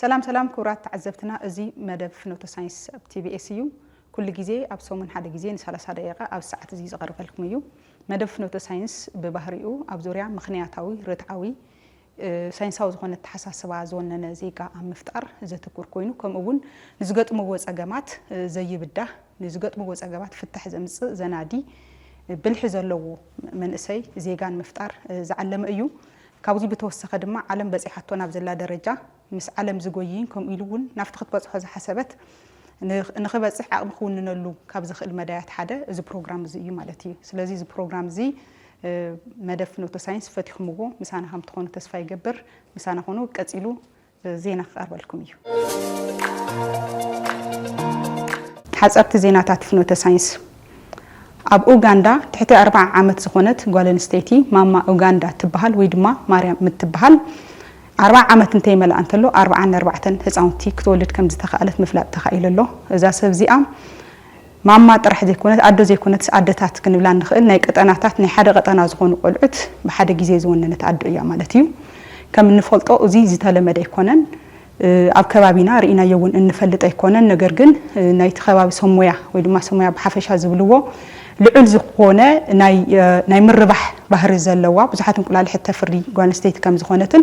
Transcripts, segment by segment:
ሰላም ሰላም ክቡራት ተዓዘብትና እዚ መደብ ፍኖተ ሳይንስ ኣብ ቲቢኤስ እዩ ኩሉ ግዜ ኣብ ሰሙን ሓደ ግዜ ንሳላሳ ደቂቃ ኣብ ሰዓት እዚ ዝቐርበልኩም እዩ መደብ ፍኖተ ሳይንስ ብባህሪኡ ኣብ ዙርያ ምክንያታዊ ርትዓዊ ሳይንሳዊ ዝኾነ ኣተሓሳስባ ዝወነነ ዜጋ ኣብ ምፍጣር ዘትኩር ኮይኑ ከምኡ እውን ንዝገጥምዎ ፀገማት ዘይብዳህ ንዝገጥምዎ ፀገማት ፍታሕ ዘምፅእ ዘናዲ ብልሒ ዘለዎ መንእሰይ ዜጋን ምፍጣር ዝዓለመ እዩ ካብዚ ብተወሰኸ ድማ ዓለም በጺሓቶ ናብ ዘላ ደረጃ ምስ ዓለም ዝጎይይን ከምኡ ኢሉ እውን ናብቲ ክትበጽሖ ዝሓሰበት ንክበጽሕ ዓቕሚ ክውንነሉ ካብ ዝኽእል መዳያት ሓደ እዚ ፕሮግራም እዚ እዩ ማለት እዩ። ስለዚ እዚ ፕሮግራም እዚ መደብ ፍኖተ ሳይንስ ፈቲኹምዎ ምሳና ከም ትኾኑ ተስፋ ይገብር። ምሳና ኹኑ። ቀጺሉ ዜና ክቐርበልኩም እዩ። ሓጸርቲ ዜናታት ፍኖተ ሳይንስ ኣብ ኡጋንዳ ትሕቲ ኣርብዓ ዓመት ዝኾነት ጓል ኣንስተይቲ ማማ ኡጋንዳ እትበሃል ወይ ድማ ማርያም እትበሃል ኣርብዓ ዓመት እንተይመልኣ እንተሎ ኣርብዓን ኣርባዕተን ህፃውንቲ ክትወልድ ከም ዝተኸኣለት ምፍላጥ ተኻኢሉ ኣሎ እዛ ሰብ እዚኣ ማማ ጥራሕ ዘይኮነት ኣዶ ዘይኮነትስ ኣደታት ክንብላ እንኽእል ናይ ቀጠናታት ናይ ሓደ ቀጠና ዝኾኑ ቆልዑት ብሓደ ግዜ ዝወነነት ኣዶ እያ ማለት እዩ። ከም እንፈልጦ እዙይ ዝተለመደ ኣይኮነን ኣብ ከባቢና ርኢናዮ እውን እንፈልጥ ኣይኮነን ነገር ግን ናይቲ ከባቢ ሰብ ሞያ ወይ ድማ ሰብ ሞያ ብሓፈሻ ዝብልዎ ልዑል ዝኾነ ናይ ምርባሕ ባህሪ ዘለዋ ብዙሓት እንቁላሊሕ እተፍሪ ጓል ኣንስተይቲ ከም ዝኾነትን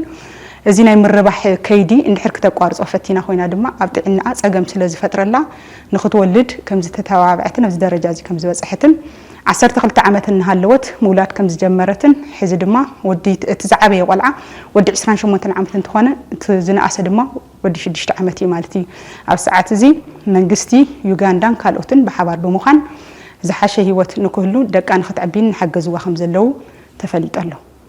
እዚ ናይ ምርባሕ ከይዲ እንድሕር ክተቋርፆ ፈቲና ኮይና ድማ ኣብ ጥዕናኣ ፀገም ስለ ዝፈጥረላ ንኽትወልድ ከም ዝተተባብዐትን ኣብዚ ደረጃ እዚ ከም ዝበፀሐትን ዓሰርተ ክልተ ዓመት እናሃለወት ምውላድ ከም ዝጀመረትን ሕዚ ድማ ወዲ እቲ ዝዓበየ ቆልዓ ወዲ ዕስራን ሸሞንተን ዓመት እንትኾነ እቲ ዝነኣሰ ድማ ወዲ ሽዱሽተ ዓመት እዩ ማለት እዩ። ኣብዚ ሰዓት እዚ መንግስቲ ዩጋንዳን ካልኦትን ብሓባር ብምዃን ዝሓሸ ህይወት ንክህሉ ደቃ ንኽተዕቢን እናሓገዝዋ ከም ዘለዉ ተፈሊጡ ኣሎ።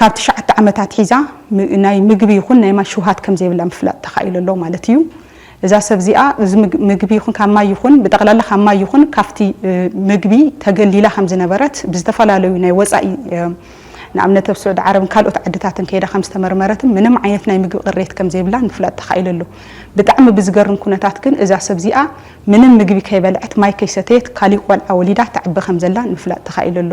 ካብ ትሽዓተ ዓመት ኣትሒዛ ናይ ምግቢ ይኹን ናይ ማይ ሽውሃት ከም ዘይብላ ምፍላጥ ተኻኢሉ ኣሎ ማለት እዩ። እዛ ሰብ እዚኣ እዚ ምግቢ ይኹን ካብ ማይ ይኹን ብጠቕላላ ካብ ማይ ይኹን ካብቲ ምግቢ ተገሊላ ከም ዝነበረት ብዝተፈላለዩ ናይ ወፃኢ ንኣብነት ኣብ ስዑዲ ዓረብን ካልኦት ዓድታትን ከይዳ ከም ዝተመርመረትን ምንም ዓይነት ናይ ምግቢ ቅሬት ከም ዘይብላን ምፍላጥ ተኻኢሉ ኣሎ። ብጣዕሚ ብዝገርም ኩነታት ግን እዛ ሰብ እዚኣ ምንም ምግቢ ከይበልዐት ማይ ከይሰተየት ካሊእ ቆልዓ ወሊዳ ተዕቢ ከም ዘላን ምፍላጥ ተኻኢሉ ኣሎ።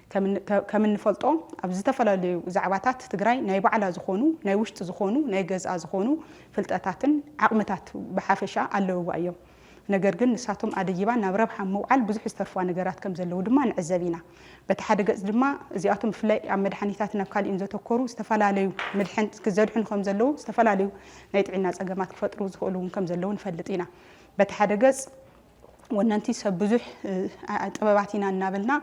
ከም እንፈልጦ ኣብ ዝተፈላለዩ ዛዕባታት ትግራይ ናይ ባዕላ ዝኾኑ ናይ ውሽጢ ዝኾኑ ናይ ገዝኣ ዝኾኑ ፍልጠታትን ዓቕምታት ብሓፈሻ ኣለውዋ እዮም። ነገር ግን ንሳቶም ኣደይባ ናብ ረብሓ ምውዓል ብዙሕ ዝተርፏ ነገራት ከም ዘለዉ ድማ ንዕዘብ ኢና። በቲ ሓደ ገጽ ድማ እዚኣቶም ብፍላይ ኣብ መድሓኒታት ናብ ካሊእን ዘተኮሩ ዝተፈላለዩ ምድሕን ዘድሕኑ ከም ዘለዉ ዝተፈላለዩ ናይ ጥዒና ጸገማት ክፈጥሩ ዝኽእሉ እውን ከም ዘለዉ ንፈልጥ ኢና። በቲ ሓደ ገጽ ወነንቲ ሰብ ብዙሕ ጥበባት ኢና እናበልና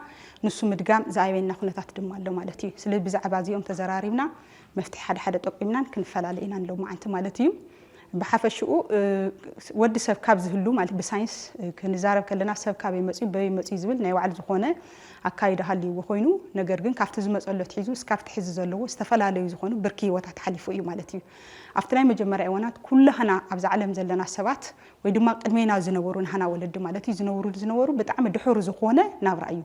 ንሱ ምድጋም ዝኣበየና ኩነታት ድማ ኣሎ ማለት እዩ። ስለ ብዛዕባ እዚኦም ተዘራሪብና መፍትሒ ሓደ ሓደ ጠቂምናን ክንፈላለ ኢና ሎማዓንቲ ማለት እዩ። ብሓፈሽኡ ወዲ ሰብ ካብ ዝህሉ ማለት ብሳይንስ ክንዛረብ ከለና ሰብ ካበይ መፅዩ በበይ መፅዩ ዝብል ናይ ባዕሉ ዝኾነ ኣካይዳ ሃልይዎ ኮይኑ ነገር ግን ካብቲ ዝመፀሎ ትሒዙ እስካብቲ ሕዚ ዘለዎ ዝተፈላለዩ ዝኾኑ ብርኪ ህይወታት ሓሊፉ እዩ ማለት እዩ። ኣብቲ ናይ መጀመርያ እዋናት ኩላህና ኣብዛ ዓለም ዘለና ሰባት ወይ ድማ ቅድሜና ዝነበሩ ናህና ወለዲ ማለት እዩ ዝነብሩሉ ዝነበሩ ብጣዕሚ ድሑር ዝኾነ ናብራ እዩ።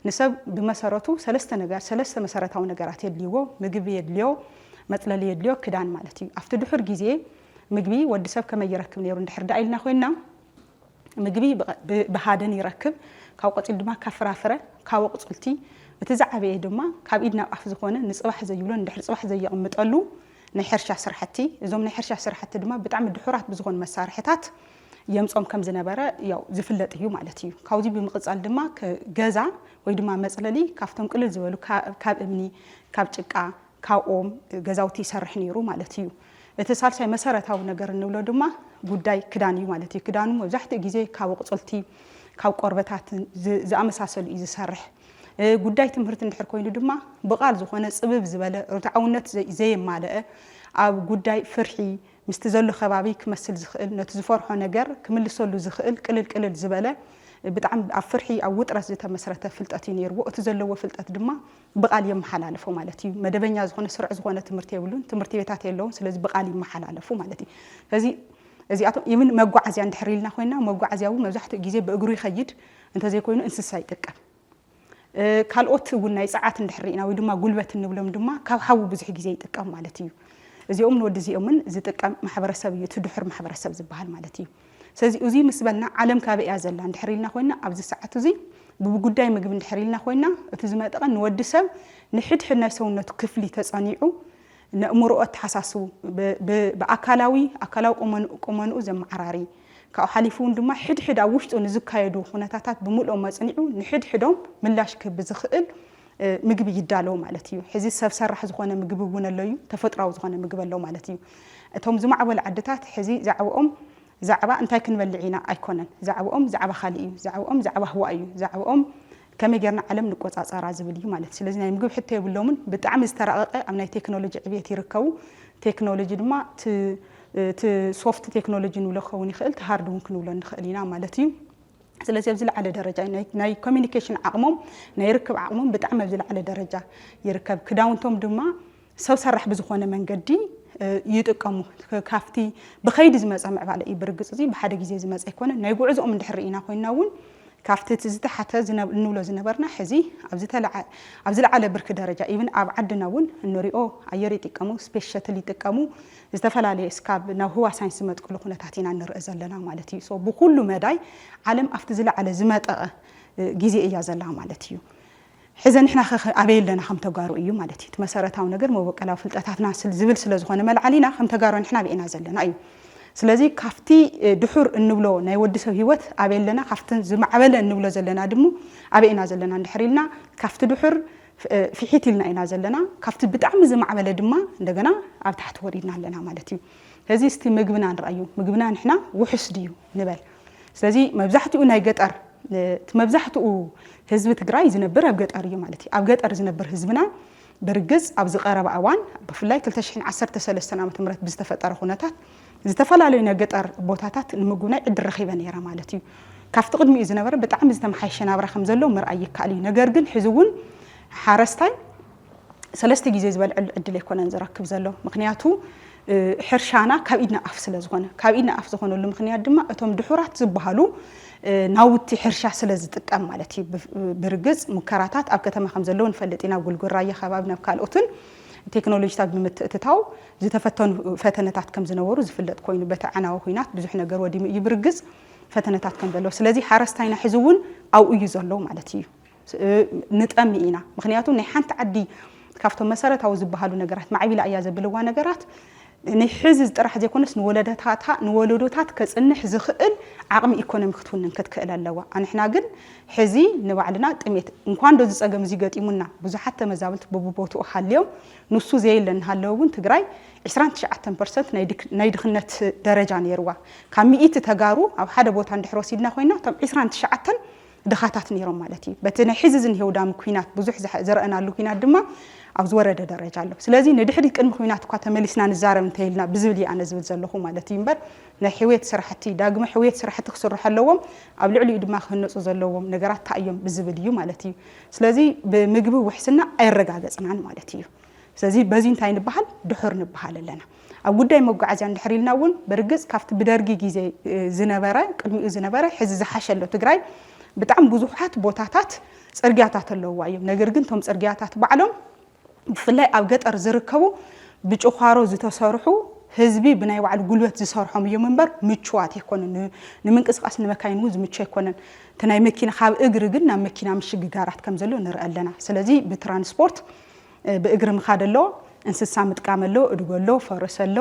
ንሰብ ብመሰረቱ ሰለስተ ነገር ሰለስተ መሰረታዊ ነገራት የድልይዎ፣ ምግቢ የድልዮ፣ መፅለሊ የድልዮ፣ ክዳን ማለት እዩ። ኣብቲ ድሑር ግዜ ምግቢ ወዲ ሰብ ከመይ ይረክብ ነይሩ እንድሕር ደኣ ኢልና ኮይንና ምግቢ ብሃደን ይረክብ፣ ካብኡ ቀፂሉ ድማ ካብ ፍራፍረ፣ ካብ ኣቑፅልቲ፣ እቲ ዝዓበየ ድማ ካብ ኢድ ናብ ኣፍ ዝኾነ ንፅባሕ ዘይብሎን እንድሕር ፅባሕ ዘየቕምጠሉ፣ ናይ ሕርሻ ስራሕቲ፣ እዞም ናይ ሕርሻ ስራሕቲ ድማ ብጣዕሚ ድሑራት ብዝኾኑ መሳርሕታት የምጾም ከም ዝነበረ ያው ዝፍለጥ እዩ ማለት እዩ። ካብዚ ብምቕጻል ድማ ገዛ ወይ ድማ መጽለሊ ካብቶም ቅልል ዝበሉ ካብ እምኒ፣ ካብ ጭቃ፣ ካብ ኦም ገዛውቲ ይሰርሕ ነይሩ ማለት እዩ። እቲ ሳልሳይ መሰረታዊ ነገር እንብሎ ድማ ጉዳይ ክዳን እዩ ማለት እዩ። ክዳኑ መብዛሕትኡ ግዜ ካብ ኣቑጽልቲ፣ ካብ ቆርበታት ዝኣመሳሰሉ እዩ ዝሰርሕ። ጉዳይ ትምህርቲ እንድሕር ኮይኑ ድማ ብቓል ዝኾነ ጽብብ ዝበለ ርትዓውነት ዘየማለአ ኣብ ጉዳይ ፍርሒ ምስቲ ዘሎ ከባቢ ክመስል ዝኽእል ነቲ ዝፈርሖ ነገር ክምልሰሉ ዝኽእል ቅልል ቅልል ዝበለ ብጣዕሚ ኣብ ፍርሒ ኣብ ውጥረት ዝተመስረተ ፍልጠት እዩ ነይርዎ እቲ ዘለዎ ፍልጠት ድማ ብቓል የመሓላለፎ ማለት እዩ መደበኛ ዝኾነ ስርዕ ዝኾነ ትምህርቲ የብሉን ትምህርቲ ቤታት የለውን ስለዚ ብቓል ይመሓላለፉ ማለት እዩ ስለዚ እዚኣቶም ኢብን መጓዓዝያ እንድሕር ኢልና ኮይና መጓዓዝያ እውን መብዛሕትኡ ግዜ ብእግሩ ይኸይድ እንተዘይኮይኑ እንስሳ ይጥቀም። ካልኦት እውን ናይ ጸዓት እንድሕር ርኢና ወይ ድማ ጉልበት እንብሎም ድማ ካብ ሓዊ ብዙሕ ግዜ ይጥቀም ማለት እዩ። እዚኦምን ወዲ እዚኦምን ዝጥቀም ማሕበረሰብ እዩ እቲ ድሑር ማሕበረሰብ ዝበሃል ማለት እዩ። ስለዚ እዙይ ምስ በልና ዓለም ካበይ እያ ዘላ እንድሕር ኢልና ኮይና ኣብዚ ሰዓት እዙይ ብጉዳይ ምግቢ እንድሕር ኢልና ኮይና እቲ ዝመጠቐ ንወዲ ሰብ ንሕድሕድ ናይ ሰውነቱ ክፍሊ ተጸኒዑ ነእምሮኡ ኣተሓሳስቡ ብኣካላዊ ኣካላዊ ቁመንኡ ዘመዓራሪ ካብኡ ሓሊፉ ውን ድማ ሕድ ሕድ ኣብ ውሽጡ ንዝካየዱ ኩነታታት ብምልኦም ኣፅኒዑ ንሕድ ሕዶም ምላሽ ክህብ ብዝኽእል ምግቢ ይዳለው ማለት እዩ። ሕዚ ሰብ ሰራሕ ዝኾነ ምግቢ እውን ኣሎ እዩ፣ ተፈጥሯዊ ዝኾነ ምግቢ ኣሎ ማለት እዩ። እቶም ዝማዕበሉ ዓድታት ሕዚ ዛዕብኦም ዛዕባ እንታይ ክንበልዕ ኢና ኣይኮነን፣ ዛዕብኦም ዛዕባ ካሊእ እዩ፣ ዛዕብኦም ዛዕባ ህዋ እዩ፣ ዛዕብኦም ከመይ ጌርና ዓለም ንቆጻጸራ ዝብል እዩ ማለት ስለዚ ናይ ምግብ ሕቶ የብሎምን ብጣዕሚ ዝተራቀቀ ኣብ ናይ ቴክኖሎጂ ዕብየት ይርከቡ ቴክኖሎጂ ድማ እቲ ሶፍት ቴክኖሎጂ ንብሎ ክኸውን ይኽእል እቲ ሃርድ እውን ክንብሎ ንኽእል ኢና ማለት እዩ ስለዚ ኣብ ዝለዓለ ደረጃ ናይ ኮሚኒኬሽን ዓቕሞም ናይ ርክብ ዓቕሞም ብጣዕሚ ኣብ ዝለዓለ ደረጃ ይርከብ ክዳውንቶም ድማ ሰብ ሰራሕ ብዝኾነ መንገዲ ይጥቀሙ። ካብቲ ብኸይዲ ዝመፀ ምዕባለ እዩ። ብርግፅ እዚ ብሓደ ግዜ ዝመፀ ኣይኮነን። ናይ ጉዕዞኦም እንድሕር ርኢና ኮይና እውን ካብቲ እቲ ዝተሓተ እንብሎ ዝነበርና ሕዚ ኣብ ዝለዓለ ብርኪ ደረጃ ኢብን ኣብ ዓድና እውን እንሪኦ ኣየር ይጥቀሙ፣ ስፔስ ሸትል ይጥቀሙ፣ ዝተፈላለየ እስካብ ናብ ህዋ ሳይንስ ዝመጥቅሉ ኩነታት ኢና እንርእ ዘለና ማለት እዩ። ብኩሉ መዳይ ዓለም ኣብቲ ዝለዓለ ዝመጠቐ ግዜ እያ ዘላ ማለት እዩ። ሕዘ ንሕና ከ ኣበይ ኣለና ከም ተጋሩ እዩ ማለት እዩ እቲ መሰረታዊ ነገር መበቀላዊ ፍልጠታትና ዝብል ስለ ዝኾነ መልዓሊና ከም ተጋሩ ንሕና ኣበይ ኢና ዘለና እዩ ስለዚ ካብቲ ድሑር እንብሎ ናይ ወዲ ሰብ ህይወት ኣበይ ኣለና ካብቲ ዝማዕበለ እንብሎ ዘለና ድሙ ኣበይ ኢና ዘለና እንድሕር ኢልና ካብቲ ድሑር ፍሒት ኢልና ኢና ዘለና ካብቲ ብጣዕሚ ዝማዕበለ ድማ እንደገና ኣብ ታሕቲ ወሪድና ኣለና ማለት እዩ እዚ እስቲ ምግብና ንርኣዩ ምግብና ንሕና ውሑስ ድዩ ንበል ስለዚ መብዛሕትኡ ናይ ገጠር እቲ መብዛሕትኡ ህዝቢ ትግራይ ዝነብር ኣብ ገጠር እዩ ማለት እዩ ኣብ ገጠር ዝነብር ህዝብና ብርግፅ ኣብዚ ቀረባ እዋን ብፍላይ 2013 ዓ ም ብዝተፈጠረ ኩነታት ዝተፈላለዩ ናይ ገጠር ቦታታት ንምጉብናይ ዕድል ረኺበ ነይረ ማለት እዩ ካብቲ ቅድሚኡ ዝነበረ ብጣዕሚ ዝተመሓየሸ ናብራ ከም ዘሎ ምርኣይ ይከኣል እዩ ነገር ግን ሕዚ እውን ሓረስታይ ሰለስተ ግዜ ዝበልዐሉ ዕድል ኣይኮነን ዝረክብ ዘሎ ምክንያቱ ሕርሻና ካብ ኢድና ኣፍ ስለ ዝኾነ ካብ ኢድና ኣፍ ዝኾነሉ ምክንያት ድማ እቶም ድሑራት ዝበሃሉ ናውቲ ሕርሻ ስለ ዝጥቀም ማለት እዩ ብርግፅ ሙከራታት ኣብ ከተማ ከም ዘለዉ ንፈልጥ ኢና ጉልጉል ራያ ከባቢ ናብ ካልኦትን ቴክኖሎጂታት ብምትእትታው ዝተፈተኑ ፈተነታት ከም ዝነበሩ ዝፍለጥ ኮይኑ በቲ ኣዕናዊ ኩናት ብዙሕ ነገር ወዲሙ እዩ ብርግፅ ፈተነታት ከም ዘለዎ ስለዚ ሓረስታይና ሕዚ እውን ኣብኡ እዩ ዘሎ ማለት እዩ ንጠሚ ኢና ምክንያቱ ናይ ሓንቲ ዓዲ ካብቶም መሰረታዊ ዝበሃሉ ነገራት ማዕቢላ እያ ዘብልዋ ነገራት ናይ ሕዚ ጥራሕ ዘይኮነስ ንወለደታታ ንወለዶታት ከፅንሕ ዝኽእል ዓቕሚ ኢኮኖሚ ክትውንን ክትክእል ኣለዋ። ኣንሕና ግን ሕዚ ንባዕልና ጥሜት እንኳን ዶ ዝፀገም እዚ ገጢሙና ብዙሓት ተመዛበልቲ በብቦትኡ ሃልዮም ንሱ ዘየለ እናሃለወ እውን ትግራይ ዕስራን ትሽዓተን ፐርሰንት ናይ ድኽነት ደረጃ ነይርዋ ካብ ሚኢቲ ተጋሩ ኣብ ሓደ ቦታ እንድሕር ወሲድና ኮይና እቶም ዕስራን ትሽዓተን ድኻታት ነይሮም ማለት እዩ። በቲ ናይ ሕዚ ዝንሄ ውዳሚ ኩናት ብዙሕ ዝሐ ዝረእናሉ ኩናት ድማ ኣብ ዝወረደ ደረጃ ኣሎ። ስለዚ ንድሕሪት ቅድሚ ኩናት እኳ ተመሊስና ንዛረብ እንተይልና ብዝብል እዩ ኣነ ዝብል ዘለኹ ማለት እዩ እምበር ናይ ሕውየት ስራሕቲ ዳግመ ሕውየት ስራሕቲ ክስርሑ ኣለዎም ኣብ ልዕሊኡ ድማ ክህነፁ ዘለዎም ነገራት ታይ እዮም ብዝብል እዩ ማለት እዩ። ስለዚ ብምግቢ ውሕስና ኣይረጋገፅናን ማለት እዩ። ስለዚ በዚ እንታይ ንበሃል ድሑር ንበሃል ኣለና። ኣብ ጉዳይ መጓዓዝያ እንድሕር ኢልና እውን ብርግፅ ካብቲ ብደርጊ ግዜ ዝነበረ ቅድሚኡ ዝነበረ ሕዚ ዝሓሸ ኣሎ ትግራይ ብጣዕሚ ብዙሓት ቦታታት ፅርግያታት ኣለውዋ እዮም። ነገር ግን እቶም ፅርግያታት ባዕሎም ብፍላይ ኣብ ገጠር ዝርከቡ ብጭዃሮ ዝተሰርሑ ህዝቢ ብናይ ባዕሉ ጉልበት ዝሰርሖም እዮም እምበር ምቹዋት ኣይኮነን ንምንቅስቃስ ንመካይን እውን ዝምቹ ኣይኮነን እቲ ናይ መኪና ካብ እግሪ ግን ናብ መኪና ምሽግጋራት ከም ዘሎ ንርኢ ኣለና ስለዚ ብትራንስፖርት ብእግሪ ምኻድ ኣሎ፣ እንስሳ ምጥቃም ኣሎ፣ እድጎ ኣሎ፣ ፈረስ ኣሎ፣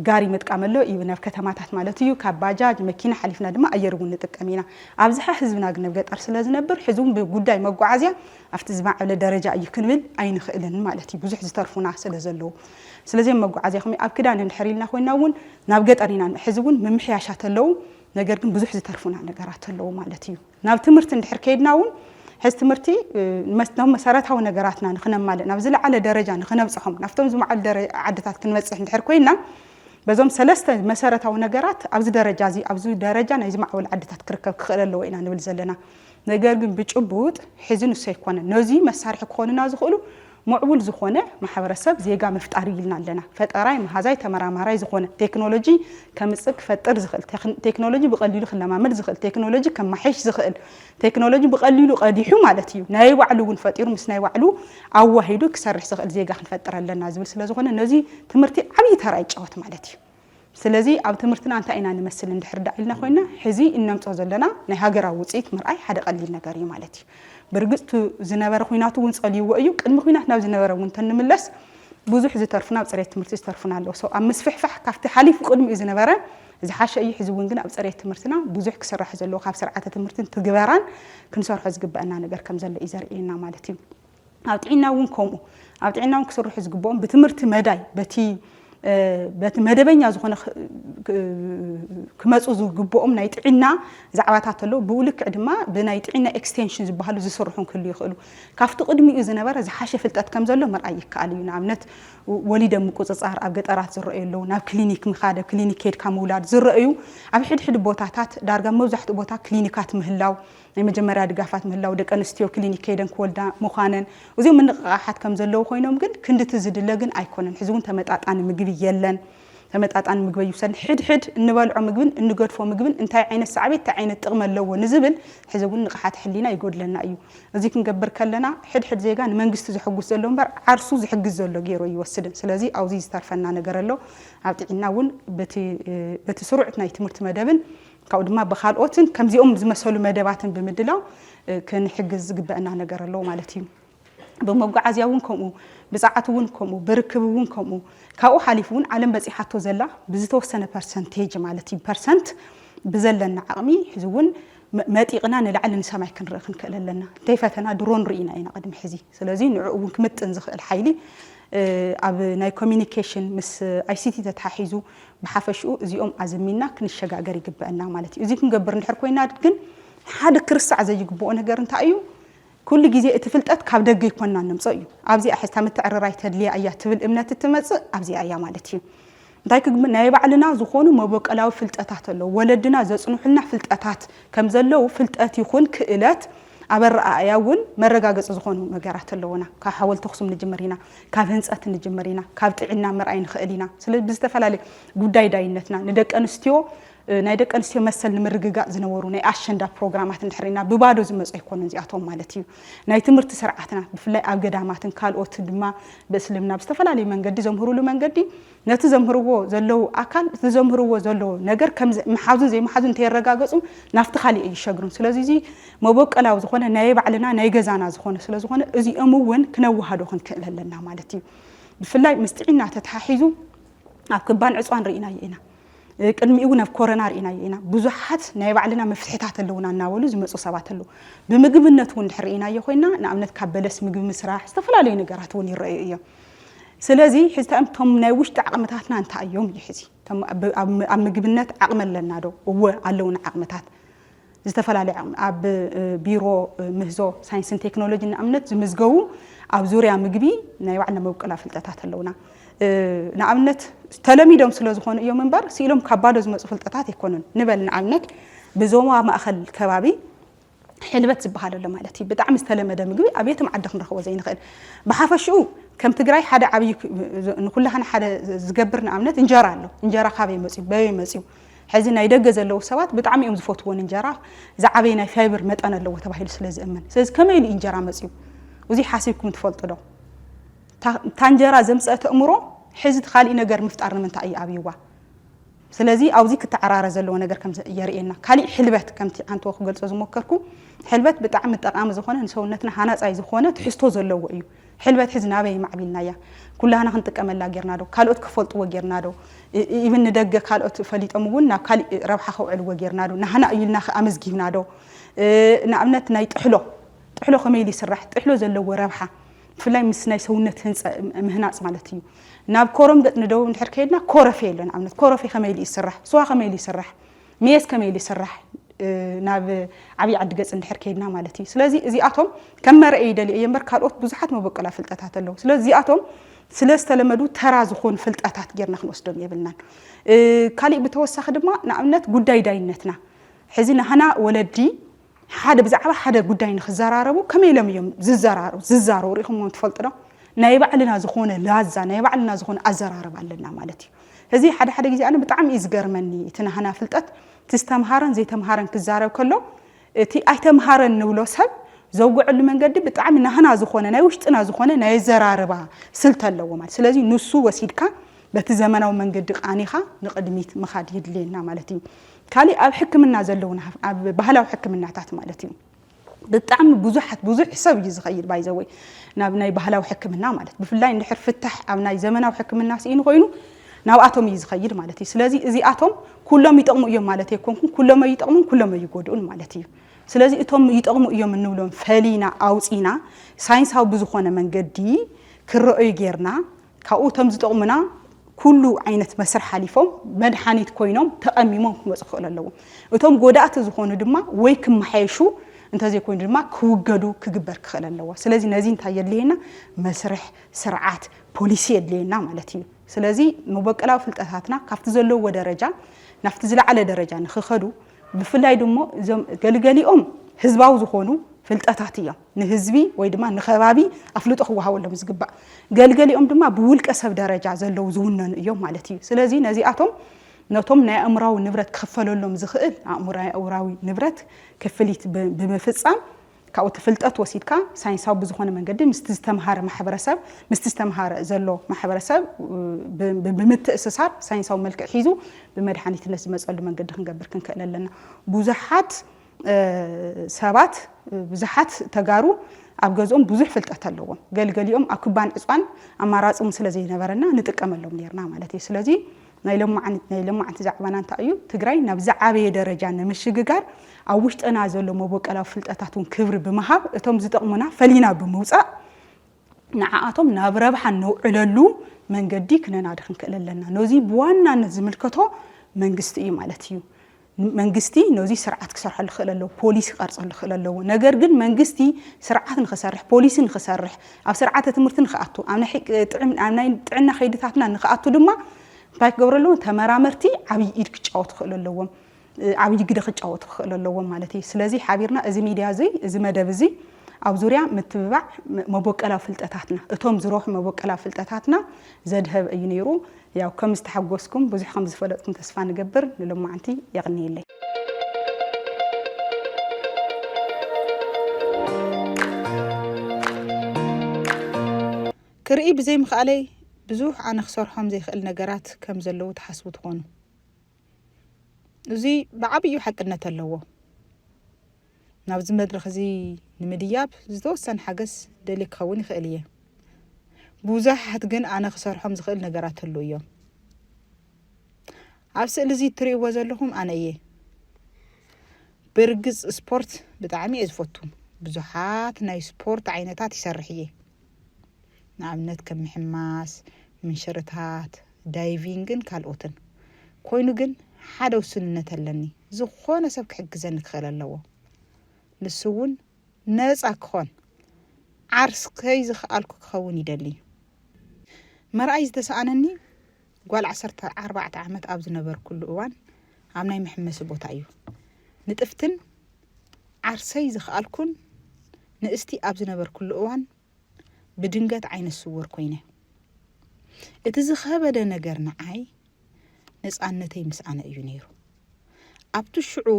ጋሪ ምጥቃም ኣሎ እዩ ናብ ከተማታት ማለት እዩ። ካብ ባጃጅ መኪና ሓሊፍና ድማ ኣየር እውን ንጥቀም ኢና። ኣብዝሓ ህዝብና ግን ኣብ ገጠር ስለ ዝነብር ሕዚ እውን ብጉዳይ መጓዓዝያ ኣብቲ ዝማዕበለ ደረጃ እዩ ክንብል ኣይንኽእልን ማለት እዩ ብዙሕ ዝተርፉና ስለ ዘለዉ። ስለዚ ኣብ መጓዓዝያ ከመይ ኣብ ክዳን እንድሕር ኢልና ኮይና እውን ናብ ገጠር ኢና ሕዚ እውን ምምሕያሻት ኣለዉ ነገር ግን ብዙሕ ዝተርፉና ነገራት ኣለዉ ማለት እዩ። ናብ ትምህርቲ እንድሕር ከይድና እውን ሕዚ ትምህርቲ ም መሰረታዊ ነገራትና ንክነማልእ ናብ ዝለዓለ ደረጃ ንክነብፅሖም ናብቶም ዝማዕበሉ ደረ ዓድታት ክንበፅሕ እንድሕር ኮይንና በዞም ሰለስተ መሰረታዊ ነገራት ኣብዚ ደረጃ እዚ ኣብዚ ደረጃ ናይ ዝማዕበሉ ዓድታት ክርከብ ክኽእል ኣለዎ ኢና ንብል ዘለና። ነገር ግን ብጭቡጥ ሕዚ ንሱ ኣይኮነን። ነዙይ መሳርሒ ክኾኑና ዝኽእሉ ሙዕቡል ዝኾነ ማሕበረሰብ ዜጋ ምፍጣር እዩ ኢልና ኣለና። ፈጠራይ፣ መሃዛይ፣ ተመራማራይ ዝኾነ፣ ቴክኖሎጂ ከምፅእ፣ ክፈጥር ዝኽእል፣ ቴክኖሎጂ ብቐሊሉ ክለማመድ ዝኽእል፣ ቴክኖሎጂ ከማሕይሽ ዝኽእል፣ ቴክኖሎጂ ብቐሊሉ ቐዲሑ ማለት እዩ ናይ ባዕሉ እውን ፈጢሩ ምስ ናይ ባዕሉ ኣዋሂዱ ክሰርሕ ዝኽእል ዜጋ ክንፈጥር ኣለና ዝብል ስለዝኾነ ነዙይ ትምህርቲ ዓብዪ ተራ ይጫወት ማለት እዩ። ስለዚ ኣብ ትምህርትና እንታይ ኢና ንመስል እንድሕር ደኣ ኢልና ኮይና ሕዚ እነምጾ ዘለና ናይ ሃገራዊ ውጽኢት ምርኣይ ሓደ ቀሊል ነገር እዩ ማለት እዩ። ብርግጽ እቲ ዝነበረ ኩናት እውን ጸልይዎ እዩ። ቅድሚ ኩናት ናብ ዝነበረ እውን እንተንምለስ ብዙሕ ዝተርፉና ኣብ ጽሬት ትምህርቲ ዝተርፉና ኣለዉ። So ኣብ ምስፍሕፋሕ ካብቲ ሓሊፉ ቅድሚኡ ዝነበረ ዝሓሸ እዩ። ሕዚ እውን ግን ኣብ ጽሬት ትምህርትና ብዙሕ ክስራሕ ዘለዎ ካብ ስርዓተ ትምህርትን ትግበራን ክንሰርሖ ዝግበእና ነገር ከም ዘሎ እዩ ዘርእየና ማለት እዩ። ኣብ ጥዒና እውን ከምኡ ኣብ ጥዒና እውን ክስርሑ ዝግብኦም ብትምህርቲ መዳይ በቲ በቲ መደበኛ ዝኾነ ክመፁ ዝግብኦም ናይ ጥዒና ዛዕባታት ኣለዉ ብኡ ልክዕ ድማ ብናይ ጥዒና ኤክስቴንሽን ዝበሃሉ ዝስርሑን ክህሉ ይኽእሉ ካብቲ ቅድሚኡ ዝነበረ ዝሓሸ ፍልጠት ከም ዘሎ ምርኣይ ይከኣል እዩ ንኣብነት ወሊደ ምቁፅፃር ኣብ ገጠራት ዝረአዩ ኣለዉ ናብ ክሊኒክ ምኻደ ክሊኒክ ኬድካ ምውላድ ዝረአዩ ኣብ ሕድሕድ ቦታታት ዳርጋ መብዛሕትኡ ቦታ ክሊኒካት ምህላው ናይ መጀመርያ ድጋፋት ምህላው፣ ደቂ ኣንስትዮ ክሊኒክ ከይደን ክወልዳ ምዃነን፣ እዚኦም ምንቕቓሓት ከም ዘለዉ ኮይኖም ግን ክንድቲ ዝድለ ግን ኣይኮነን። ሕዚ እውን ተመጣጣኒ ምግቢ የለን። ተመጣጣኒ ምግቢ ኣይውሰድን። ሕድሕድ እንበልዖ ምግብን እንገድፎ ምግብን እንታይ ዓይነት ሳዕቤት፣ እንታይ ዓይነት ጥቕሚ ኣለዎ ንዝብል ሕዚ እውን ንቕሓተ ሕሊና ይጎድለና እዩ። እዚ ክንገብር ከለና ሕድሕድ ዜጋ ንመንግስቲ ዘሕጉስ ዘሎ እምበር ዓርሱ ዝሕግዝ ዘሎ ገይሩ ኣይወስድን። ስለዚ ኣብዚ ዝተርፈና ነገር ኣሎ። ኣብ ጥዒና እውን በቲ በቲ ስሩዕ ናይ ትምህርቲ መደብን ካብኡ ድማ ብካልኦትን ከምዚኦም ዝመሰሉ መደባትን ብምድላው ክንሕግዝ ዝግበእና ነገር ኣሎ ማለት እዩ። ብመጓዓዝያ እውን ከምኡ፣ ብፀዓት እውን ከምኡ፣ ብርክብ እውን ከምኡ። ካብኡ ሓሊፉ እውን ዓለም በፂሓቶ ዘላ ብዝተወሰነ ፐርሰንቴጅ ማለት እዩ ፐርሰንት ብዘለና ዓቕሚ ሕዚ እውን መጢቕና ንላዕሊ ንሰማይ ክንርኢ ክንክእል ኣለና። እንተይፈተና ድሮን ርኢና ኢና ቅድሚ ሕዚ። ስለዚ ንዕኡ እውን ክምጥን ዝኽእል ሓይሊ ኣብ ናይ ኮሚኒኬሽን ምስ ኣይሲቲ ተተሓሒዙ ብሓፈሽኡ እዚኦም ኣዘሚንና ክንሸጋገር ይግበእና ማለት እዩ። እዚ ክንገብር እንድሕር ኮይና ግን ሓደ ክርሳዕ ዘይግበኦ ነገር እንታይ እዩ? ኩሉ ግዜ እቲ ፍልጠት ካብ ደገ ይኮና ነምጾ እዩ። ኣብዚኣ ሕዚ እታ ምትዕርራይ ተድልያ እያ ትብል እምነት እትመጽእ ኣብዚኣ እያ ማለት እዩ። እንታይ ክግብ ናይ ባዕልና ዝኾኑ መበቀላዊ ፍልጠታት ኣለዉ። ወለድና ዘጽንሑልና ፍልጠታት ከም ዘለዉ ፍልጠት ይኹን ክእለት ኣብ ኣረኣእያ እውን መረጋገፂ ዝኾኑ ነገራት ኣለዉና። ካብ ሓወልቲ ኣኽሱም ንጅምር ኢና፣ ካብ ህንፀት ንጅምር ኢና፣ ካብ ጥዒና ምርኣይ ንኽእል ኢና። ስለዚ ብዝተፈላለየ ጉዳይ ዳይነትና ንደቂ ኣንስትዮ ናይ ደቂ ኣንስትዮ መሰል ንምርግጋእ ዝነበሩ ናይ ኣሸንዳ ፕሮግራማት እንድሕር ኢልና ብባዶ ዝመፁ ኣይኮኑን እዚኣቶም ማለት እዩ። ናይ ትምህርቲ ስርዓትና ብፍላይ ኣብ ገዳማትን ካልኦት ድማ ብእስልምና ብዝተፈላለዩ መንገዲ ዘምህሩሉ መንገዲ ነቲ ዘምህርዎ ዘለዉ ኣካል እቲ ዘምህርዎ ዘለዎ ነገር ከም ምሓዙን ዘይምሓዙን እንተየረጋገጹ ናብቲ ካሊእ ኣይሸግሩን። ስለዚ እዚ መቦቀላዊ ዝኾነ ናይ ባዕልና ናይ ገዛና ዝኾነ ስለ ዝኾነ እዚኦም እውን ክነወሃዶ ክንክእል ኣለና ማለት እዩ። ብፍላይ ምስ ጥዒና ተተሓሒዙ ኣብ ክባን ዕጽዋን ርኢናዮ ኢና። ቅድሚኡ እውን ኣብ ኮረና ርኢናዮ ኢና። ብዙሓት ናይ ባዕልና መፍትሕታት ኣለዉና እናበሉ ዝመጹ ሰባት ኣለዉ። ብምግብነት እውን ድሕር ርኢናዮ ኮይና ንኣብነት ካብ በለስ ምግቢ ምስራሕ ዝተፈላለዩ ነገራት እውን ይረኣዩ እዮም። ስለዚ ሕዚ እቶም ናይ ውሽጢ ዓቕምታትና እንታይ እዮም እዩ ሕዚ ኣብ ምግብነት ዓቕሚ ኣለና ዶ? እወ ኣለውና ዓቕምታት ዝተፈላለየ ዓቕሚ ኣብ ቢሮ ምህዞ ሳይንስን ቴክኖሎጂ ንኣብነት ዝምዝገቡ ኣብ ዙርያ ምግቢ ናይ ባዕልና መብቀላ ፍልጠታት ኣለውና ንኣብነት ተለሚዶም ስለ ዝኾኑ እዮም እምበር ስኢሎም ካብ ባዶ ዝመፁ ፍልጠታት ኣይኮኑን ንበል ንኣብነት ብዞባ ማእኸል ከባቢ ሕልበት ዝበሃል ኣሎ ማለት እዩ። ብጣዕሚ ዝተለመደ ምግቢ ኣብ የትም ዓዲ ክንረኽቦ ዘይንኽእል። ብሓፈሽኡ ከም ትግራይ ሓደ ዓብዪ ንኩላህና ሓደ ዝገብር ንኣብነት እንጀራ ኣሎ። እንጀራ ካበይ መፅዩ? በበይ መፅዩ? ሕዚ ናይ ደገ ዘለዉ ሰባት ብጣዕሚ እዮም ዝፈትዎ ንእንጀራ ዝዓበየ ናይ ፋይበር መጠን ኣለዎ ተባሂሉ ስለ ዝእመን። ስለዚ ከመይ ኢሉ እንጀራ መፅዩ? እዙይ ሓሲብኩም ትፈልጡ ዶ? እታ እንጀራ ዘምፀአት ኣእምሮ ሕዚ እቲ ካሊእ ነገር ምፍጣር ንምንታይ እዩ ኣብይዋ? ስለዚ ኣብዚ ክተዓራረ ዘለዎ ነገር ከም የርእየና ካሊእ ሕልበት ከምቲ ዓንተዎ ክገልጾ ዝሞከርኩ ሕልበት ብጣዕሚ ጠቃሚ ዝኾነ ንሰውነትና ሃናጻይ ዝኾነ ትሕዝቶ ዘለዎ እዩ ሕልበት ሕዚ ናበይ ማዕቢልናያ ኩላህና ክንጥቀመላ ጌርና ዶ ካልኦት ክፈልጥዎ ጌርና ዶ ኢብን ንደገ ካልኦት ፈሊጦም እውን ናብ ካሊእ ረብሓ ከውዕልዎ ጌርና ዶ ናህና እዩ ኢልና ኣመዝጊብና ዶ ንኣብነት ናይ ጥሕሎ ጥሕሎ ከመይ ኢሉ ይስራሕ ጥሕሎ ዘለዎ ረብሓ ብፍላይ ምስ ናይ ሰውነት ህንፀ ምህናፅ ማለት እዩ። ናብ ኮረም ገፅ ንደቡብ እንድሕር ከይድና ኮረፌ ኣሎ ንኣብነት ኮረፌ ከመይ ኢሉ ይስራሕ፣ ስዋ ከመይ ኢሉ ይስራሕ፣ ሜስ ከመይ ኢሉ ይስራሕ ናብ ዓብይ ዓዲ ገፅ እንድሕር ከይድና ማለት እዩ። ስለዚ እዚኣቶም ከም መርኣይ ይደልየ እየ እምበር ካልኦት ብዙሓት መበቆላ ፍልጠታት ኣለዉ። ስለ እዚኣቶም ስለ ዝተለመዱ ተራ ዝኾኑ ፍልጠታት ጌርና ክንወስዶም የብልናን። ካሊእ ብተወሳኺ ድማ ንኣብነት ጉዳይ ዳይነትና ሕዚ ናህና ወለዲ ሓደ ብዛዕባ ሓደ ጉዳይ ንክዘራረቡ ከመይ ኢሎም እዮም ዝዘራሩ ዝዛረቡ ርኢኹምዎም ትፈልጡ ዶ? ናይ ባዕልና ዝኾነ ላዛ ናይ ባዕልና ዝኾነ ኣዘራርባ ኣለና ማለት እዩ። እዚ ሓደ ሓደ ግዜ ኣነ ብጣዕሚ እዩ ዝገርመኒ እቲ ናህና ፍልጠት እቲ ዝተምሃረን ዘይተምሃረን ክዛረብ ከሎ እቲ ኣይተምሃረን ንብሎ ሰብ ዘውግዐሉ መንገዲ ብጣዕሚ ናህና ዝኾነ ናይ ውሽጥና ዝኾነ ናይ ኣዘራርባ ስልቲ ኣለዎ ማለት ስለዚ ንሱ ወሲድካ በቲ ዘመናዊ መንገዲ ቃኒኻ ንቕድሚት ምኻድ የድልየና ማለት እዩ። ካሊእ ኣብ ሕክምና ዘለዉና ኣብ ባህላዊ ሕክምናታት ማለት እዩ ብጣዕሚ ብዙሓት ብዙሕ ሰብ እዩ ዝኸይድ ባይዘወይ ናብ ናይ ባህላዊ ሕክምና ማለት ብፍላይ እንድሕር ፍታሕ ኣብ ናይ ዘመናዊ ሕክምና ስኢኑ ኮይኑ ናብኣቶም እዩ ዝኸይድ ማለት እዩ ስለዚ እዚኣቶም ኩሎም ይጠቕሙ እዮም ማለት ኣይኮንኩን ኩሎም ይጠቕሙን ኩሎም ይጎድኡን ማለት እዩ ስለዚ እቶም ይጠቕሙ እዮም እንብሎም ፈሊና ኣውፂና ሳይንሳዊ ብዝኾነ መንገዲ ክረኦዩ ጌርና ካብኡ እቶም ዝጠቕሙና ኩሉ ዓይነት መስርሕ ሓሊፎም መድሓኒት ኮይኖም ተቐሚሞም ክመፁ ክኽእሉ ኣለዎም። እቶም ጎዳእቲ ዝኾኑ ድማ ወይ ክመሓየሹ እንተዘይኮይኑ ድማ ክውገዱ ክግበር ክኽእል ኣለዎ። ስለዚ ነዚ እንታይ የድልየና? መስርሕ፣ ስርዓት፣ ፖሊሲ የድልየና ማለት እዩ። ስለዚ መበቆላዊ ፍልጠታትና ካብቲ ዘለውዎ ደረጃ ናብቲ ዝለዓለ ደረጃ ንክኸዱ ብፍላይ ድሞ እዞም ገልገሊኦም ህዝባዊ ዝኾኑ ፍልጠታት እዮም። ንህዝቢ ወይ ድማ ንከባቢ ኣፍልጦ ክወሃበሎም እዩ ዝግባእ። ገልገሊኦም ድማ ብውልቀ ሰብ ደረጃ ዘለዉ ዝውነኑ እዮም ማለት እዩ። ስለዚ ነዚኣቶም ነቶም ናይ ኣእምራዊ ንብረት ክኽፈለሎም ዝኽእል ኣእምራዊ ንብረት ክፍሊት ብምፍፃም ካብኡ እቲ ፍልጠት ወሲድካ ሳይንሳዊ ብዝኾነ መንገዲ ምስቲ ዝተምሃረ ማሕበረሰብ ምስቲ ዝተምሃረ ዘሎ ማሕበረሰብ ብምትእስሳር ሳይንሳዊ መልክዕ ሒዙ ብመድሓኒትነት ዝመፀሉ መንገዲ ክንገብር ክንክእል ኣለና። ብዙሓት ሰባት ብዙሓት ተጋሩ ኣብ ገዝኦም ብዙሕ ፍልጠት ኣለዎም ገልገሊኦም ኣብ ክባን ዕፅዋን ኣማራፂ እውን ስለዘይነበረና ንጥቀመሎም ነርና ማለት እዩ ስለዚ ናይ ለማዕንቲ ዛዕባና እንታይ እዩ ትግራይ ናብ ዝዓበየ ደረጃ ንምሽግጋር ኣብ ውሽጥና ዘሎ መቦቀላዊ ፍልጠታት እውን ክብሪ ብምሃብ እቶም ዝጠቕሙና ፈሊና ብምውፃእ ንዓኣቶም ናብ ረብሓ ነውዕለሉ መንገዲ ክነናዲ ክንክእል ኣለና። ነዙይ ብዋናነት ዝምልከቶ መንግስቲ እዩ ማለት እዩ። መንግስቲ ነዙይ ስርዓት ክሰርሐሉ ክእል ኣለዎ፣ ፖሊሲ ክቐርፀሉ ክእል ኣለዎ። ነገር ግን መንግስቲ ስርዓት ንክሰርሕ፣ ፖሊሲ ንክሰርሕ፣ ኣብ ስርዓተ ትምህርቲ ንክኣቱ፣ ኣብ ናይ ጥዕና ከይድታትና ንክኣቱ ድማ እንታይ ክገብሩ ኣለዎም? ተመራመርቲ ዓብይ ኢድ ክጫወቱ ክእሉ ኣለዎም። ዓብይ ግደ ክጫወቱ ክኽእሉ ኣለዎም ማለት እዩ። ስለዚ ሓቢርና እዚ ሚድያ እዙይ እዚ መደብ እዙይ ኣብ ዙርያ ምትብባዕ መቦቀላዊ ፍልጠታትና እቶም ዝረሑ መቦቀላዊ ፍልጠታትና ዘድሀበ እዩ ነይሩ። ያው ከም ዝተሓጎስኩም ብዙሕ ከም ዝፈለጥኩም ተስፋ ንገብር። ንሎማዓንቲ የቕንየለይ። ክርኢ ብዘይምኽኣለይ ብዙሕ ኣነ ክሰርሖም ዘይኽእል ነገራት ከም ዘለዉ ትሓስቡ ትኾኑ። እዚ ብዓብዩ ሓቅነት ኣለዎ። ናብዚ መድረኽ እዚ ንምድያብ ዝተወሰነ ሓገዝ ደልየ ክኸውን ይኽእል እየ። ብዙሓት ግን ኣነ ክሰርሖም ዝኽእል ነገራት ኣሉ እዮም። ኣብ ስእሊ እዚ እትርእይዎ ዘለኹም ኣነ እየ። ብርግጽ ስፖርት ብጣዕሚ እየ ዝፈቱ። ብዙሓት ናይ ስፖርት ዓይነታት ይሰርሕ እየ። ንኣብነት ከም ምሕማስ፣ ምንሽርታት፣ ዳይቪንግን ካልኦትን። ኮይኑ ግን ሓደ ውሱንነት ኣለኒ፣ ዝኾነ ሰብ ክሕግዘኒ ክኽእል ኣለዎ። ንሱ እውን ነጻ ክኾን፣ ዓርስ ከይዝኸኣልኩ ክኸውን ይደሊ። መርኣይ ዝተሰኣነኒ ጓል ዓሰርተ ኣርባዕተ ዓመት ኣብ ዝነበርኩሉ እዋን ኣብ ናይ መሕመሲ ቦታ እዩ። ንጥፍትን ዓርሰይ ዝኸኣልኩን ንእስቲ ኣብ ዝነበርኩሉ እዋን ብድንገት ዓይነ ስውር ኮይነ። እቲ ዝኸበደ ነገር ንዓይ ነፃነተይ ምስ ኣነ እዩ ነይሩ። ኣብቲ ሽዑ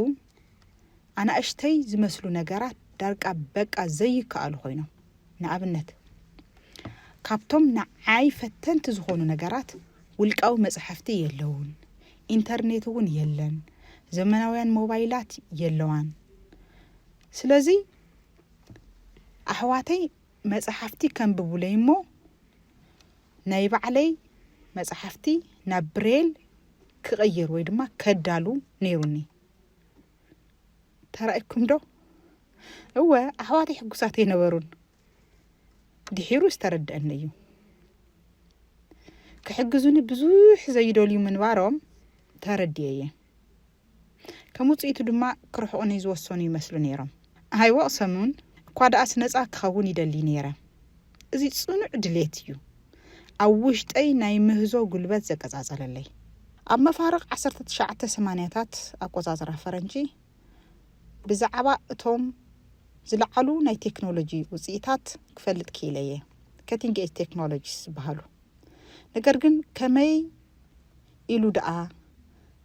ኣናእሽተይ ዝመስሉ ነገራት ዳርቃ በቃ ዘይከኣሉ ኮይኖም፣ ንኣብነት ካብቶም ንዓይ ፈተንቲ ዝኾኑ ነገራት ውልቃዊ መፅሓፍቲ የለውን፣ ኢንተርኔት እውን የለን፣ ዘመናውያን ሞባይላት የለዋን። ስለዚ ኣሕዋተይ መፃሓፍቲ ከንብቡለይ እሞ ናይ ባዕለይ መፃሓፍቲ ናብ ብሬል ክቕይር ወይ ድማ ከዳሉ ነይሩኒ ተራእኩም ዶ እወ ኣሕዋተይ ሕጉሳት ኣይነበሩን ድሒሩ ዝተረድአኒ እዩ ክሕግዙኒ ብዙሕ ዘይደልዩ ምንባሮም ተረድየ እየ ከም ውጽኢቱ ድማ ክርሕቑኒ ዝወሰኑ ይመስሉ ነይሮም። ኣይወቕሰኑን፣ እኳ ደኣስ ነጻ ክኸውን ይደሊ ነይረ። እዚ ጽኑዕ ድሌት እዩ ኣብ ውሽጠይ ናይ ምህዞ ጉልበት ዘቀጻጸለለይ። ኣብ መፋርቕ ዓሰርተ ትሽዓተ ሰማንያታት ኣቆጻጽራ ፈረንጂ፣ ብዛዕባ እቶም ዝለዓሉ ናይ ቴክኖሎጂ ውጽኢታት ክፈልጥ ክኢለ እየ፣ ከቲንግ ኤጅ ቴክኖሎጂስ ዝበሃሉ። ነገር ግን ከመይ? ኢሉ ደኣ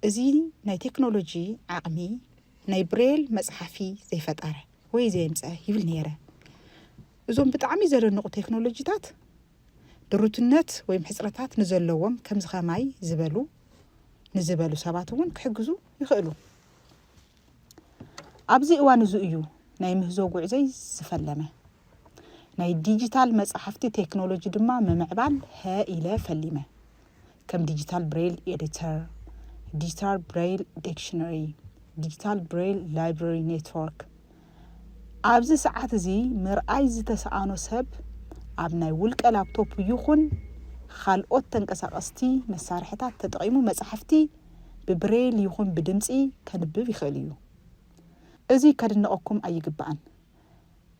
እዚ ናይ ቴክኖሎጂ ዓቕሚ ናይ ብሬል መጽሓፊ ዘይፈጠረ ወይ ዘየምጸ ይብል ነይረ። እዞም ብጣዕሚ ዘለንቑ ቴክኖሎጂታት ድሩትነት ወይም ሕጽረታት ንዘለዎም ከምዚ ከማይ ዝበሉ ንዝበሉ ሰባት እውን ክሕግዙ ይኽእሉ። ኣብዚ እዋን እዚ እዩ ናይ ምህዞ ጉዕዞይ ዝፈለመ። ናይ ዲጂታል መጻሕፍቲ ቴክኖሎጂ ድማ ምምዕባል ሀ ኢለ ፈሊመ። ከም ዲጂታል ብሬይል ኤዲተር፣ ዲጂታል ብሬይል ዲክሽነሪ፣ ዲጂታል ብሬይል ላይብረሪ ኔትወርክ ኣብዚ ሰዓት እዚ ምርኣይ ዝተሰኣኖ ሰብ ኣብ ናይ ውልቀ ላፕቶፕ ይኹን ካልኦት ተንቀሳቐስቲ መሳርሕታት ተጠቒሙ መጻሕፍቲ ብብሬይል ይኹን ብድምጺ ከንብብ ይኽእል እዩ። እዚ ከድንቐኩም ኣይግባእን።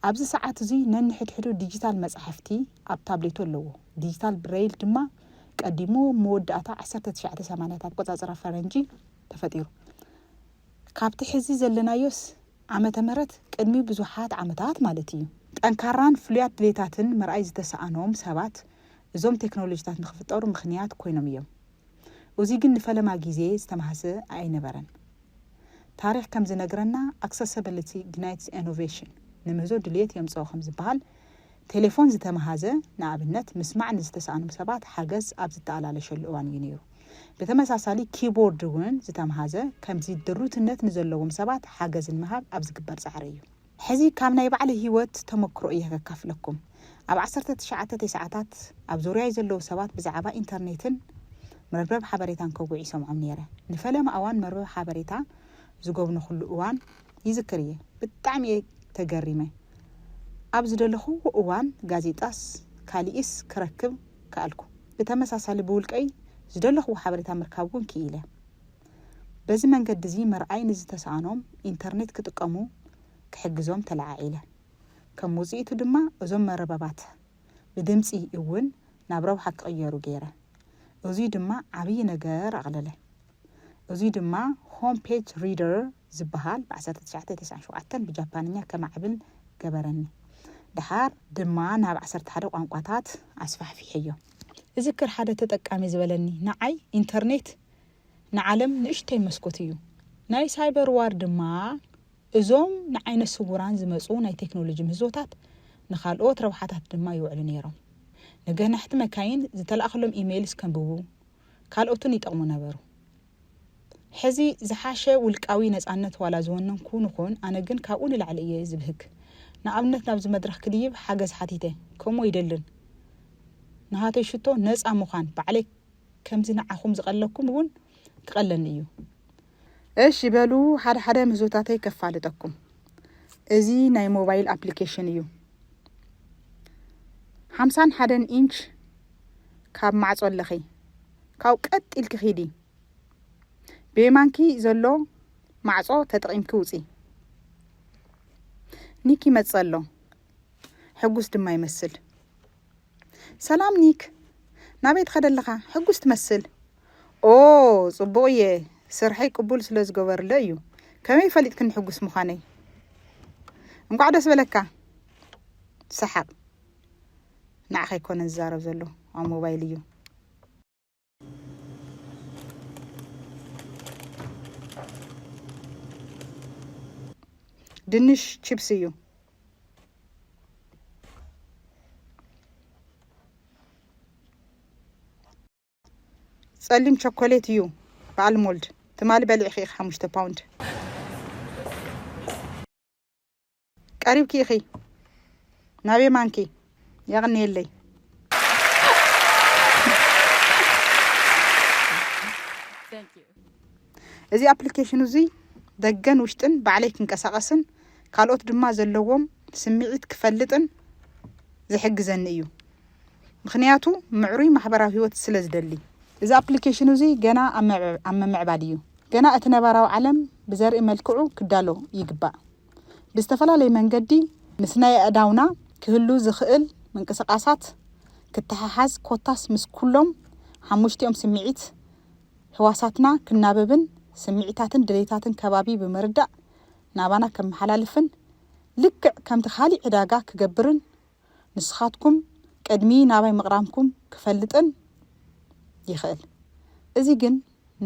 ኣብዚ ሰዓት እዚ ነንሕድሕዱ ዲጂታል መጻሕፍቲ ኣብ ታብሌቱ ኣለዎ። ዲጂታል ብሬይል ድማ ቀዲሙ ኣብ መወዳእታ ዓሰርተ ትሽዓተ ሰማንያት ኣቆጻጽራ ፈረንጂ ተፈጢሩ። ካብቲ ሕዚ ዘለናዮስ ዓመተ ምህረት ቅድሚ ብዙሓት ዓመታት ማለት እዩ። ጠንካራን ፍሉያት ድሌታትን ምርኣይ ዝተሳእኖም ሰባት እዞም ቴክኖሎጂታት ንኽፍጠሩ ምኽንያት ኮይኖም እዮም። ኡዚ ግን ንፈለማ ግዜ ዝተማህሰ ኣይነበረን። ታሪኽ ከም ዝነግረና ኣክሰሰብልቲ ግናይትስ ኤኖቬሽን ንምህዞ ድልየት የምጽኦ ከም ዝበሃል ቴሌፎን ዝተመሃዘ ንኣብነት ምስማዕ ንዝተሳእኖም ሰባት ሓገዝ ኣብ ዝተኣላለሸሉ እዋን እዩ ነይሩ። ብተመሳሳሊ ኪቦርድ እውን ዝተምሃዘ ከምዚ ድሩትነት ንዘለዎም ሰባት ሓገዝ ንምሃብ ኣብ ዝግበር ጻዕሪ እዩ። ሕዚ ካብ ናይ ባዕለይ ሂወት ተመክሮ እየ ከካፍለኩም ኣብ ዓሰርተ ትሽዓተ ቴስዓታት ኣብ ዙርያይ ዘለዉ ሰባት ብዛዓባ ኢንተርኔትን መርበብ ሓበሬታን ከውግዕ ይሰምዖም ነይረ ንፈለማ እዋን መርበብ ሓበሬታ ዝጎብነኹሉ እዋን ይዝክር እየ ብጣዕሚ እየ ተገሪመ ኣብ ዝደለኹዎ እዋን ጋዜጣስ ካሊእስ ክረክብ ከኣልኩ ብተመሳሳሊ ብውልቀይ ዝደለኹዎ ሓበሬታ ምርካብ እውን ክኢለ። በዚ መንገዲ እዚ ምርኣይ ንዝተስኣኖም ኢንተርኔት ክጥቀሙ ክሕግዞም ተለዓዒለ። ከም ውጽኢቱ ድማ እዞም መርበባት ብድምጺ እውን ናብ ረብሓ ክቕየሩ ገይረ። እዙይ ድማ ዓብዪ ነገር ኣቕለለ። እዙይ ድማ ሆም ፔጅ ሪደር ዝበሃል ብ ዓሰርተ ትሽዓተ ተስዓን ሸውዓተን ብጃፓንኛ ከማዕብል ገበረኒ። ደሓር ድማ ናብ ዓሰርተ ሓደ ቋንቋታት ኣስፋሕፊሐዮ። እዝክር ሓደ ተጠቃሚ ዝበለኒ ንዓይ ኢንተርኔት ንዓለም ንእሽተይ መስኮት እዩ። ናይ ሳይበር ዋር ድማ እዞም ንዓይነ ስውራን ዝመጹ ናይ ቴክኖሎጂ ምህዞታት ንኻልኦት ረብሓታት ድማ ይውዕሉ ነይሮም። ንገናሕቲ መካይን ዝተላእከሎም ኢመይልስ ከንብቡ፣ ካልኦትን ይጠቕሙ ነበሩ። ሕዚ ዝሓሸ ውልቃዊ ነጻነት ዋላ ዝወነንኩ ንኹን ኣነ ግን ካብኡ ንላዕሊ እየ ዝብህግ። ንኣብነት ናብዚ መድረኽ ክድይብ ሓገዝ ሓቲተ ከምኡ ይደልን። ናሃተይ ሽቶ ነጻ ምዃን ባዕለይ ከምዚ ንዓኹም ዝቀለኩም እውን ክቀለኒ እዩ። እሺ በሉ ሓደ ሓደ ምህዞታተይ ከፋልጠኩም እዚ ናይ ሞባይል ኣፕሊኬሽን እዩ ሓምሳን ሓደን ኢንች ካብ ማዕጾ ኣለኺ ካብኡ ቀጥ ኢልኪ ኪዲ ብየማንኪ ዘሎ ማዕጾ ተጠቂምኪ ውጺ ኒክ ይመጽእ ኣሎ ሕጉስ ድማ ይመስል ሰላም ኒክ ናበይ ትኸደ ኣለኻ ሕጉስ ትመስል። ኦው ጽቡቕ እየ ስርሐይ ቅቡል ስለ ዝገበርለ እዩ ከመይ ፈሊጥክኒ ሕጉስ ምዃነይ እንቋዕ ደስ በለካ ሰሓቕ ንዓኸ ይኮነ ዝዛረብ ዘሎ ኣብ ሞባይል እዩ ድንሽ ቺፕስ እዩ ጸሊም ቸኮሌት እዩ በዓል ሞልድ ትማሊ በሊዕኺ ኢኺ ሓሙሽተ ፓውንድ ቀሪብኪ ኢኺ ናብ የማንኪ የቕንየለይ እዚ ኣፕሊኬሽን እዙይ ደገን ውሽጥን ባዕለይ ክንቀሳቐስን ካልኦት ድማ ዘለዎም ስምዒት ክፈልጥን ዝሕግዘኒ እዩ ምክንያቱ ምዕሩይ ማሕበራዊ ህይወት ስለ ዝደሊ እዚ ኣፕሊኬሽን እዙይ ገና ኣብ ምምዕባል እዩ ገና እቲ ነባራዊ ዓለም ብዘርኢ መልክዑ ክዳሎ ይግባእ ብዝተፈላለየ መንገዲ ምስ ናይ ኣእዳውና ክህሉ ዝኽእል ምንቅስቓሳት ክተሓሓዝ ኮታስ ምስ ኩሎም ሓሙሽቲኦም ስምዒት ህዋሳትና ክናበብን ስምዒታትን ድሌታትን ከባቢ ብምርዳእ ናባና ከመሓላልፍን ልክዕ ከምቲ ካሊእ ዕዳጋ ክገብርን ንስኻትኩም ቅድሚ ናባይ ምቕራምኩም ክፈልጥን ይኽእል። እዚ ግን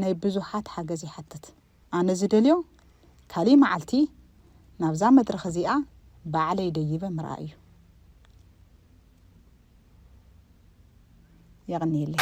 ናይ ብዙሓት ሓገዝ ይሓትት። ኣነ ዝደልዮ ካሊእ መዓልቲ ናብዛ መድረኽ እዚኣ ባዕለይ ደይበ ምርኣይ እዩ። የቕንየለይ።